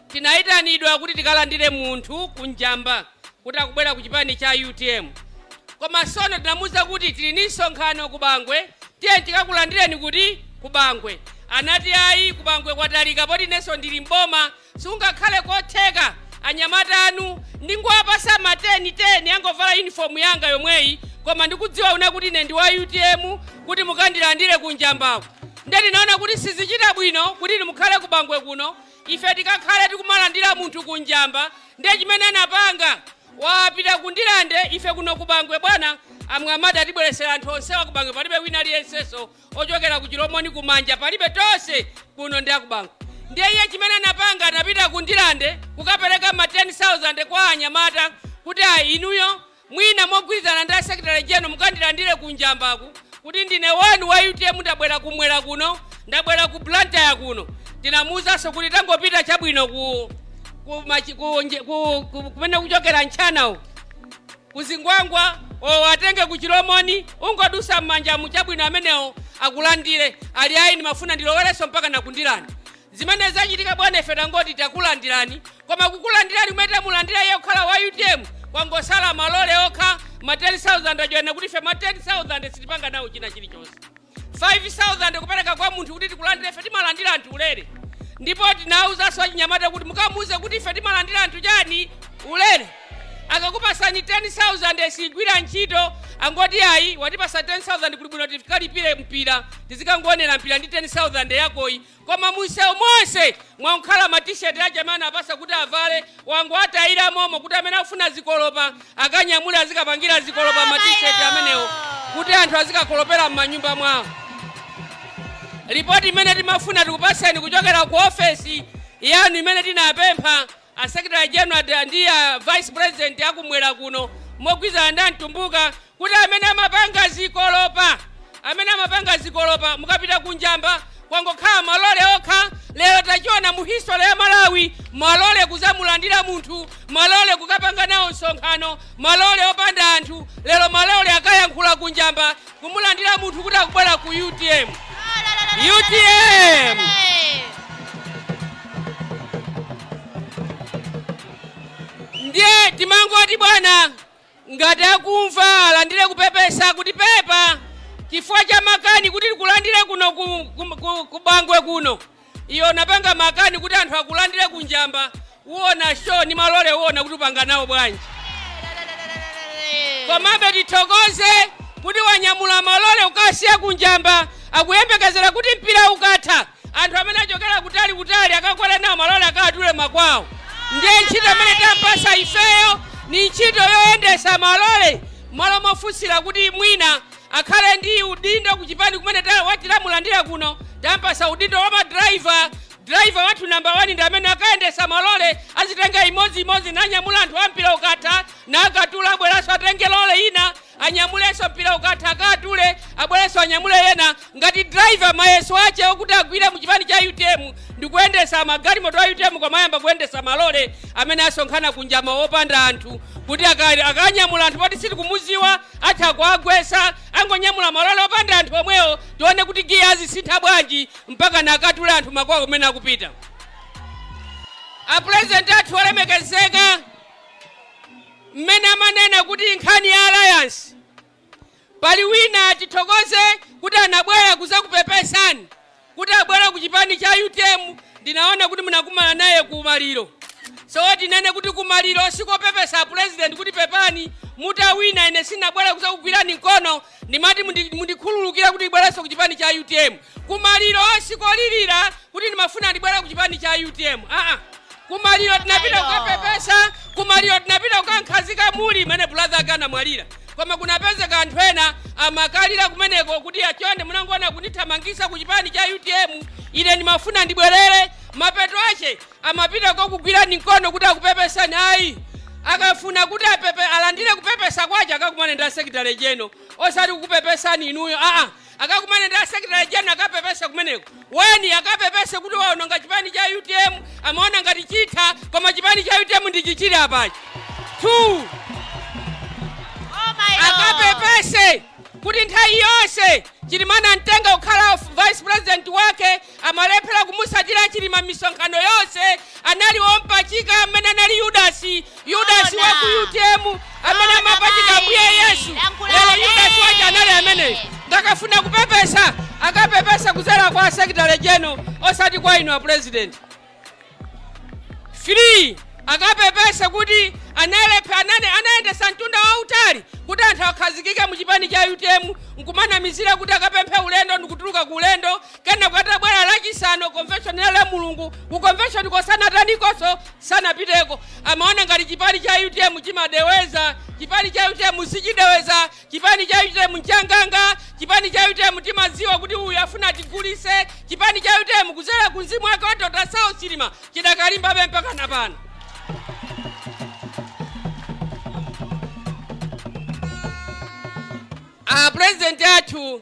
Tinaitanidwa kuti tikalandire munthu ku Njamba kuti akubwera ku chipani cha utm koma sono tinamuuza kuti tili ndi msonkhano ku Bangwe tiyeni tikakulandireni kuti? Ku Bangwe. Anati ayi ku Bangwe kwatalika poti inenso ndili m'boma sikungakhale kotheka anyamata anu ndingowapasa ma 10 10 angovala unifomu yanga yomweyi koma ndikudziwa ine kuti ine ndi wa utm kuti mukandilandire ku Njambako. Nde tinaona kuti sizichita bwino kuti inu mukhale ku Bangwe kuno Ife tikakhale tikumalandira munthu ku Njamba nde chimene anapanga wapita ku Ndirande ife kuno ku Bangwe bwana a Mwamadi atibweretsera anthu onsewa ku Bangwe palibe wina aliyensenso ochokera ku Chilomoni ku Manja palibe tose kuno ndi aku Bangwe ndiye iye chimene anapanga anapita ku Ndirande kukapereka ma 10,000 kwa anyamata kuti ayi inuyo Mwina mogwirizana ndi a Secretary General mukandilandire ku Njambaku kuti ndine wanu wa utm ndabwera kumwera kuno, ndabwera ku Blantyre kuno. Ndinamuuzanso kuti tangopita chabwino ku ku machi- ku nje- ku- ku- kumene kuchokera Ntchanawo ku Zingwangwa uwatenge ku Chilomoni ungodutsa m'Manjamu chabwino amenewo akulandire ali ayi ndimafuna ndilowerenso mpaka na ku Ndirande. Zimene zachitika bwana ife tangoti takulandirani koma kukulandirani kumene tamulandira iye kukhala wa utm kwangotsala malole okha ma 10000 ajoyana kuti ife ma 10000 sitipanga nawo china chilichonse 5000 kupereka kwa munthu kuti tikulandire ife timalandira anthu ulere ndipo tinawuzanso achinyamata kuti mukamuuze kuti ife timalandira anthu chani ulere akakupasani 10000 sigwira ntchito angoti ayi watipasa 10000 kuli bwino tikalipire mpira tizikangoonera mpira ndi 10000 yakoyi Koma mumsewu monse mwangokhala ma t-shirt aja amene anapasa kuti avale wangowatayira momo kuti amene akufuna zikolopa akanyamule azikapangira zikolopa ma t-shirt amenewo kuti anthu azikakolopera mmanyumba mwawo. Lipoti imene timafuna tikupaseni kuchokera ku ofesi yanu imene tinapempha A Secretary General ndi a Vice President a kumwera kuno mogwirizana ndi a Mtumbuka kuti amene amapanga zikolopa, amene amapanga zikolopa mukapita ku Njamba kwangokhala malole okha, lero tachiona mu history ya Malawi, malole kudzamulandira munthu, malole kukapanga nawo msonkhano, malole opanda anthu, lero malole akayankhula ku Njamba kumulandira munthu kuti akubwera ku utm utm ndiye timangoti bwana ngati akumva alandire kupepesa kuti pepa chifukwa cha makani kuti tikulandire kuno ku, ku, ku, ku Bangwe kuno Iwe unapanga makani kuti anthu akulandire ku Njamba uona show ni malole uona kuti upanga nawo bwanji komabe tithokoze kuti wanyamula malole ukasiya ku Njamba akuyembekezera kuti mpira ukatha anthu amene achokera kutali kutali akakwera nawo malole akatule makwawo ndiye ntchito imene tampasa ifeyo ni ntchito yoyendesa malole malo mofunsira kuti mwina akhale ndi udindo kuchipani kumene ta- wati lamulandira kuno tampasa udindo wa madraiva driver wathu namba 1 ndi amene akayendesa malole azitenga imodzi imodzi nanyamula anthu ampira ukatha nakatula abwerenso atenge lole ina anyamulenso mpira ukatha akatule abwerenso anyamule ina ngati driver mayeso ache okuti agwire mu chipani cha utm ndikuyendesa magalimoto a utm koma ayamba kuyendesa malole amene asonkhana ku Njamba opanda anthu kuti aka- akanyamula anthu poti sitikumuziwa atha kuwagwesa angonyamula malole opanda anthu omwewo tione kuti giya azisintha bwanji mpaka nakatule anthu makwao kumene akupita apurezidenti athu olemekezeka mmene amanena kuti nkhani ya alliance pali wina tithokoze kuti anabwera kuzakupepesani kuti abwere kuchipani cha utm ndinaona kuti munakumana naye ku maliro so tinene kuti ku maliro sikopepesa a president kuti pepani mutawina ine sinabwere kuzakugwirani mkono ndimati mundi- mundikhululukira kuti ndibwerenso ku chipani cha utm ku maliro sikolirira kuti ndimafuna ndibwere ku chipani cha utm aa kumaliro tinapita kukapepesa kumaliro tinapita kukamkhazika m'mene brother ake anamwalira koma kunapezeka anthu ena amakalira kumeneko kuti achonde munangoona kundithamangitsa ku chipani cha utm ine ndimafuna ndibwerere mapeto ache amapita kukakugwirani mkono kuti akupepesani ayi akafuna kuti apepe alandire kupepesa kwache akakumane ndi a secretary general osati kukupepesani inuyo aa Akakumane ndi a secretary general akapepese kumeneko. One akapepese kuti waononga chipani cha utm amaona ngati chitha koma chipani cha utm ndi ichi chili apachi. Two Oh my Lord. akapepese kuti nthawi yonse Chilima anamtenga kukhala vice president wake amalephera kumutsatira chilima misonkhano yonse anali ompachika amene anali yudasi yudasi Zoona. wa ku utm amene Zoona, amapachika mayi. mbuye yesu Lankhula lero ane. yudasi waja anali ameneyo ndiye akafuna kupepesa akapepese kudzera kwa a secretary general osati kwa inu a purezidenti 3 akapepese kuti analephe- anayendesa mtunda wautali kuti anthu akhazikike mu chipani cha utm nkumanamizira kuti akapemphe ulendo ndikutuluka ku ulendo kenako atabwera lachisanu convention ya Lamulungu ku convention ko sanatanikonso sanapiteko amaona ngati chipani cha utm chimadeweza chipani cha utm sichideweza Chipani cha utm nchanganga, chipani cha utm timadziwa kuti uyu afuna atigulise, chipani cha utm kuzera ku mzimu wake wa Dr Saulos Chilima chidakalimbabe mpaka napano. A president athu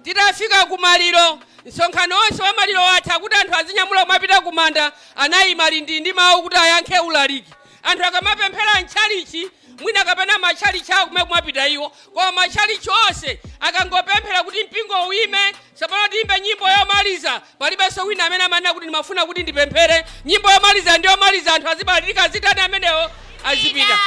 Titafika ku maliro, msonkhano onse wa maliro watha kuti anthu azinyamula kumapita ku manda, anayimanso lindii ndi mawu kuti ayankhe ulaliki. Anthu akamapemphera m'tchalitchi mwina kapena matchalitchi awo kumene kumapita iwo, koma matchalitchi onse akangopemphera kuti mpingo uyime, tsopano tiyimbe nyimbo yomaliza, Palibenso wina amene amanena kuti ndimafuna kuti ndipemphere nyimbo yomaliza ndi yomaliza anthu azibalalika azitani amenewo azipita.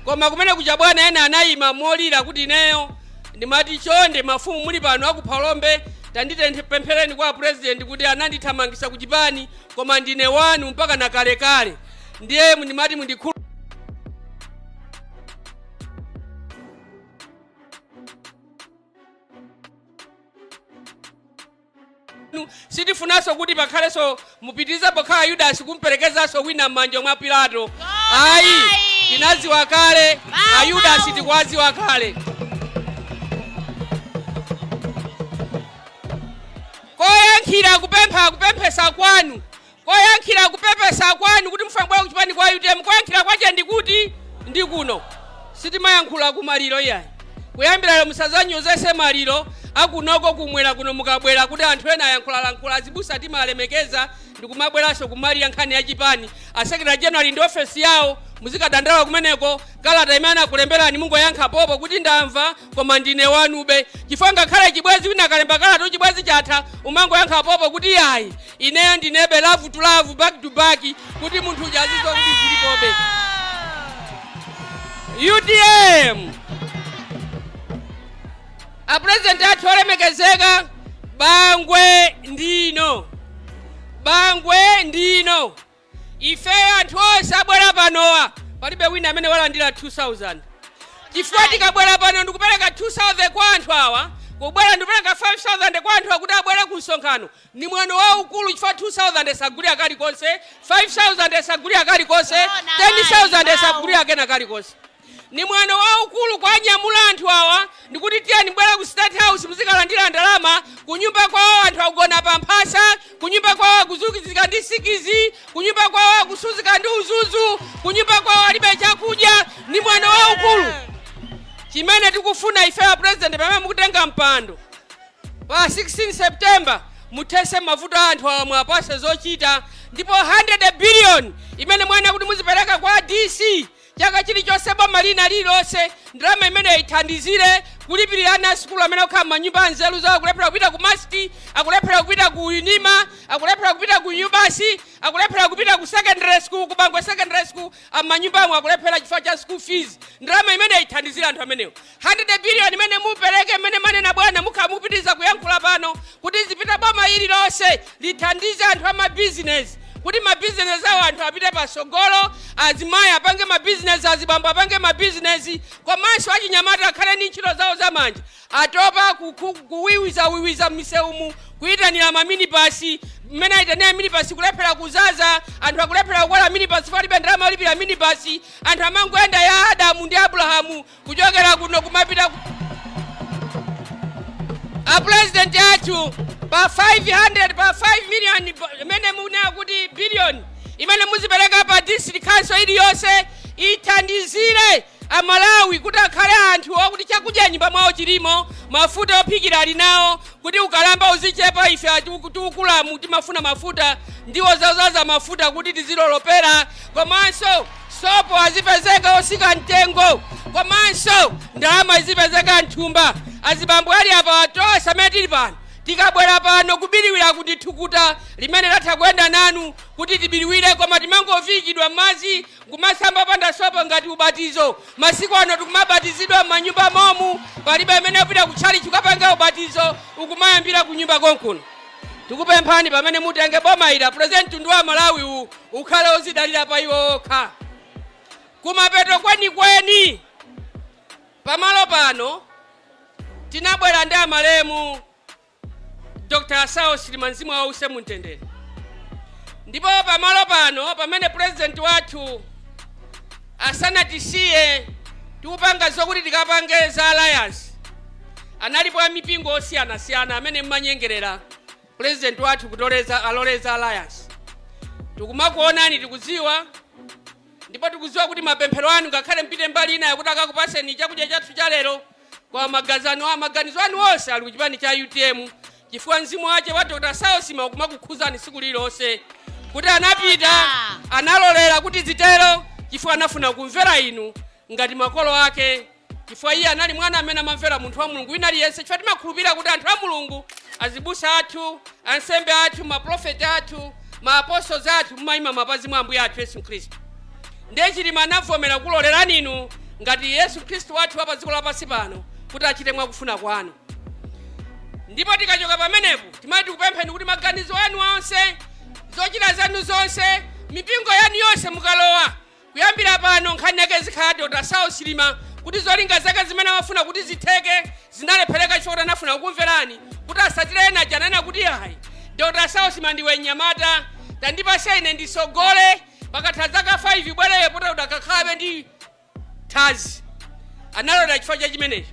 Koma kumene kuja bwana ena anayima molira kuti ineyo ndimati chonde mafumu muli pano aku Phalombe tandipemphereni kwa a president kuti anandithamangisa ku chipani koma ndine wanu mpaka na kalekale ndiye ndimati mundikhulu Nu- sitifunanso kuti pakhalenso mupitirize pokhala ayudasi kumperekezanso wina m'manja mwa pilato ayi ayi. tinadziwa kale ayudasi tikuwadziwa kale koyankhira kupempha kupepesa kwanu Koyankhira kupepesa kwanu kuti mufuna kubwera kuchipani cha utm koyankhira kwache ndikuti? Ndikuno. Sitimayankhula kumaliro iyayi. Kuyambira lero musazanyozese maliro akunoko kumwera kuno mukabwera kuti anthu ena ayankhulalankhula azibusa timalemekeza ndikumabweraso kumalira nkhani ya chipani. A secretary general ndi ofesi yawo muzikadandaula kumeneko kalata imene anakulemberani mungoyankha popo kuti ndamva koma ndine wanube. Chifukwa ngakhale chibwezi wina akalemba kalata chibwezi chatha umangoyankha popo kuti iyayi ineyo ndinebe lavu to lavu back to back kuti munthu uja azidziwa kuti zilipobe utm apurezidenti athu olemekezeka bangwe ndino bangwe ndino Ifeyo anthu onse abwera panowa palibe wina amene walandira 2000 chifukwa tikabwera pano ndikupereka 2000 kwa anthu awa kubwera ndikupereka 5000 kwa anthu awa kuti abwere ku msonkhano ni mwano waukulu chifukwa 2000 sagulika kalikonse 5000 sagulika kalikonse 10000 sagulika kena kalikonse Ni mwano waukulu kuwanyamula anthu awa ndikuti tiyeni mubwele ku state house muzikalandila ndalama kunyumba kwawo anthu akugona pa mphasa kunyumba kwawo akusuzika ndi sikizi kunyumba kwawo akusuzika ndi uzuzu kunyumba kwawo alibe chakudya ni mwano waukulu chimene tikufuna ife a president pamene mukutenga mpando pa 16 september muthese mavuto a anthu awa muwapase zochita ndipo 100 billion imene mwanena kuti muzipereka kwa dc Chaka chilichonse boma lina lililonse ndalama imeneyo ithandizire kulipirira ana a sukulu amene akukhala m'manyumba anzeru zawo, akulephera kupita ku must, akulephera kupita ku unima, akulephera kupita ku MUBAS, akulephera kupita ku secondary school, ku bangwe secondary school, ali m'manyumbamo akulephera chifukwa cha school fees. Ndalama imeneyo ithandizire anthu amenewo. Hundred billion imene mupeleke mmene manena bwana mukhala mukupitiliza kuyankhula pano kuti izipita boma lililonse lithandize anthu a ma business kuti ma business awo anthu apite pasogolo azimayi apange ma business azibambo apange ma business komanso achinyamata akhale ndi ntchito zawo zamanja atopa ku- ku- kuwiwiza wiwiza m'misewumu kuyitanira ma minibasi mmene ayitanira minibasi kulephera kuzaza anthu akulephera kukwera minibasi palibe ndalama yolipira minibasi anthu amangoyenda ya adamu ndi abrahamu kuchokera kuno kumapita ku apulezidenti athu pa 500 pa 5 million bo- imene munena kuti billion imene muzipereka pa district council iliyonse ithandizire amalawi kuti akhale anthu okuti chakudya nyumba mwawo chilimo mafuta ophikira ali nawo kuti ukalamba uzichepa ife achikulukulamu timafuna mafuta ndiwo zodzaza mafuta kuti tizilolopera komanso Sopo azipezeka otsika mtengo komanso ndalama izipezeka mthumba. Azibambo ali apawa tonse amene tili pano tikabwera pano kubiriwira ndi thukuta limene latha kuyenda nanu kuti tibiriwire, koma timangoviikidwa m'madzi nkumasamba opanda sopo ngati ubatizo. Masiku ano tikumabatizidwa m'manyumba momu, palibe amene akupita kutchalitchi kukapanga ubatizo, ukumayambira kunyumba konkuno. Tikupemphani pamene mutenge boma ili apulezidenti mtundu wa Malawi uwu ukhale odzidalira pa iwo okha. Kumapeto kwenikweni pamalo pano tinabwera ndi amalemu Dr. Saulos Chilima mzimu wawo uuse mumtendere ndipo pamalo pano pamene pulezidenti wathu Asanatisiye tikupanga zokuti tikapange za alliance analipo a mipingo osiyanasiyana amene mmanyengerera president wathu kuti alole za alliance. Tikumakuonani tikudziwa ndipo tikudziwa kuti mapemphero anu ngakhale mpite mbali inayo kuti akakupatseni chakudya chathu cha lero Koma magazi anu maganizo anu onse ali ku chipani cha utm chifukwa mzimu wache wa Dr. Saulos Chilima ukumakukhudzani tsiku lililonse kuti anapita analolera kuti zitero chifukwa anafuna kumvera inu ngati makolo ake chifukwa iye anali mwana amene amamvera munthu wa mulungu wina aliyense chifukwa timakhulupirira kuti anthu a mulungu azibusa athu ansembe athu maprofeti athu maapostoli athu mumayima m'mapazi mwa ambuye athu yesu khristu Ndiye Chilima anavomera kulolerani inu ngati Yesu Khristu wathu wa pa dziko lapansi pano kuti achite mwa kufuna kwanu. Ndipo tikachoka pamenepo timati tikupempheni kuti maganizo anu onse, zochita zanu zonse, mipingo yanu yonse mukalowa, kuyambira pano nkhani yake izikhala Dr. Saulos Chilima kuti zolinga zake zimene amafuna kuti zitheke zinalephereka chifukwa kuti anafuna kukumverani kuti asatire ena aja ananena kuti ayi Dr. Saulos Chilima ndiwe nyamata tandipase ine ndisogole pakatha dzaka 5 ubwere poti udzakhalabe ndi thazi analota chifukwa cha chimenecho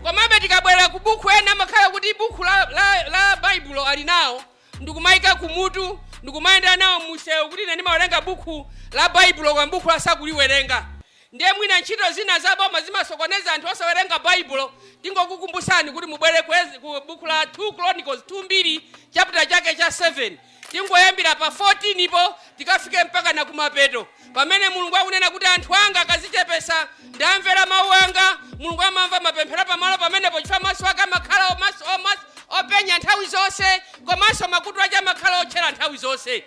komabe tikabwera ku buku ena amakhala kuti buku la, la, la baibulo ali nawo ndikumayika kumutu ndikumayendera nawo musewu kuti ine ndimawerenga buku la baibulo koma bukulo sakuliwerenga ndiye mwina ntchito zina za boma zimasokoneza anthu osawerenga baibulo tingokukumbusani kuti mubwere ku buku la 2 chronicles 2 mbiri chapter chake cha 7 Tingoyambira pa 14 po tikafike mpaka na kumapeto, pamene Mulungu akunena kuti, Anthu anga akazichepesa nda amvera mau anga, Mulungu amamva mapemphero pamalo pamenepo chifukwa maso ake amakhala openya nthawi zonse komanso makutu ache amakhala otchera nthawi zonse.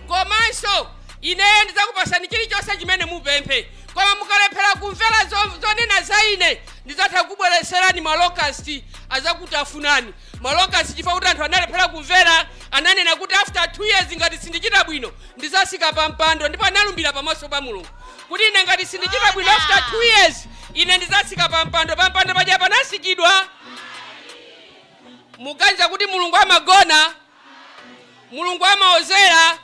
Komanso Ineyo ndidzakupasani chilichonse chimene mupemphe. Koma mukalephera kumvera zonena za Ine, ndidzatha kukubweretserani ma locust, azakutafunani. Ma locust chifukwa kuti anthu analephera kumvera ananena kuti after 2 years ngati sindichita bwino ndizasika pa mpando ndipo analumbira pamaso pa mulungu kuti ine ngati sindichita bwino after 2 years ine ndizasika pa mpando pa mpando paja panasikidwa muganiza kuti mulungu amagona Mulungu amawodzera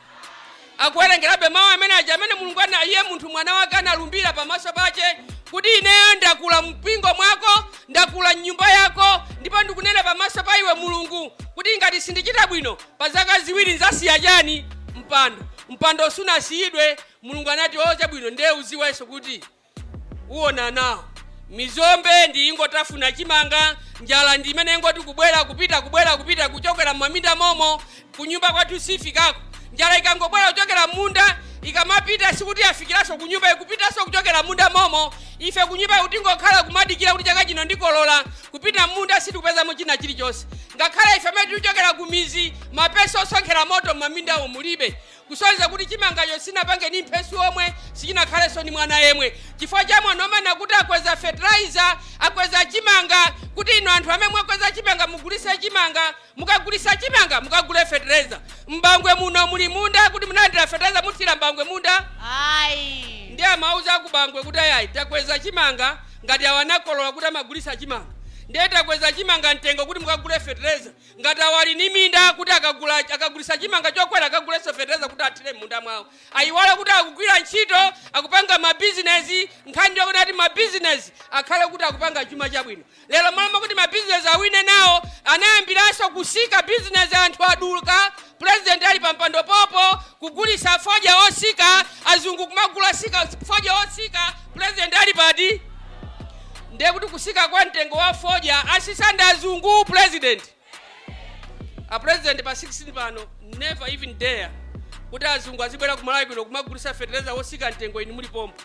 akuwerengerabe mawu amene aja amene mulungu ana iye munthu mwana wake analumbira pamaso pace kuti ineyo ndakula mpingo mwako ndakula mnyumba yako ndipo ndikunena pamaso pa iwe mulungu kuti ngati sindicita bwino pa zaka ziwiri nzasiya cani mpando mpando sunasiyidwe mulungu anati oca bwino ndiye uziwenso kuti uwona nawo. mizombe ndi iyi ingotafuna chimanga njala ndi imene ingoti kubwera kupita kubwera kupita kuchokera mumaminda momo kunyumba kwathu sifikako njala ikangobwera kuchokera munda ikamapita sikuti yafikiranso kunyumba ikupitanso kuchokera munda momo ife kunyumba kungokhala kumadikira kuti chaka chino ndikolola kupita munda sitikupezamo china chilichonse ngakhale ife amene tikuchokera kumizi mapesi osonkhera moto mumamindawo mulibe Kusonyeza kuti chimangacho sichinapange ndi mphesi omwe, sichinakhalenso ndi mwana yemwe. Chifukwa cha mwano omanena kuti akweza fertilizer, akweza chimanga, kuti inu anthu amene mwakweza chimanga mugulitse chimanga, mukagulitsa chimanga mukagule fertilizer. M'bangwe muno muli munda kuti munalandira fertilizer muthira m'bangwe munda? Ayi. Ndiye amauza akubangwe kuti ayi ayi takweza chimanga ngati awa anakolola kuti amagulitsa chimanga. Ndiye takweza chimanga mtengo kuti mukagule fertilizer. Ngati awo ali ndi minda kuti akagula, akagulitsa chimanga chokwera akagulenso fetereza kuti athire m'munda mwawo. Ayiwala kuti akugwira ntchito, akupanga mabizinezi, nkhani ndi yoona kuti mabizinezi akhale kuti akupanga chuma chabwino. Lero mmalo mwakuti mabizinezi awine nawo anayambiranso kutsika bizinezi anthu adulka President ali pampando pompo kugulisa fodya osika azungu kumagula fodya osika president ali pati ndiye kuti kusika kwa mtengo wa fodya asisa ndi azungu president a president pa 16 apano never even dare kuti azungu azibwera kumalawi kuno kumagulisa fetereza otsika mtengo inu muli pompo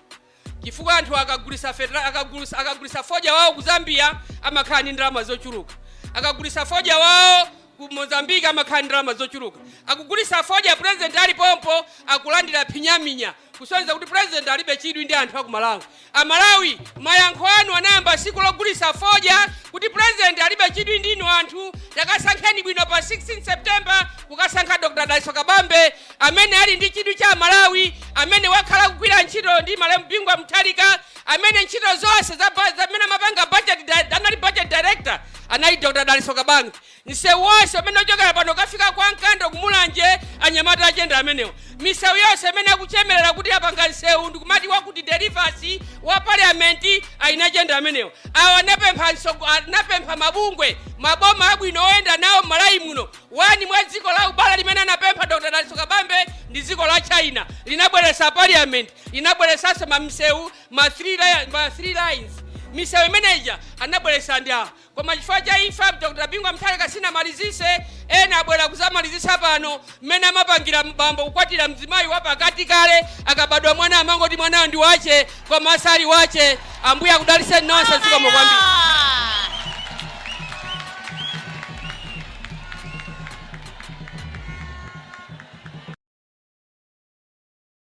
chifukwa anthu akagulisa fetra akagulisa akagulisa fodya wao ku zambia amakhala ndi ndalama zochuluka akagulisa fodya wao ku mozambique amakhala ndi ndalama zochuluka akugulisa fodya president ali pompo akulandira phinyaphinya kusonyeza kuti president alibe chidwi ndi anthu aku malawi amalawi mayankho anu anayamba tsiku logulitsa fodya kuti president alibe chidwi ndinu anthu takasankheni bwino pa 16 september kukasankha dr dalitso kabambe amene ali ndi chidwi ndi amalawi amene wakhala akugwira ntchito ndi malemu bingu wa mutharika amene ntchito zonse za ba- zamene amapanga budget di- anali budget director anali dr dalitso kabambe msewu wonse umene ochokera pano kukafika kwa nkando kumulanje anyamata achenda amenewo misewu yonse imene akuchemerera kuti apanga msewu ndikumati wakuti delivasi wa parliament ayina chenda amenewo awa anapempha msogo- anapempha mabungwe maboma abwino oyenda nawo malawi muno One mwa dziko la ubale limene anapempha Dr. Dalitso Kabambe ndi dziko la China. Linabweretsa parliament, linabweretsanso misewu, ma three, li- ma three lanes. Misewu imeneja anabweretsa ndi awa. Koma chifukwa cha imfa Dr. Bingu wa Mutharika sinamalizise, ena abwera kuzamalizisa pano mmene amapangira bambo kukwatira mzimayi wa pakati kale akabadwa mwana amangoti mwanayo ndi wache koma sali wache ambuye akudaliseni nonse zikomo kwambiri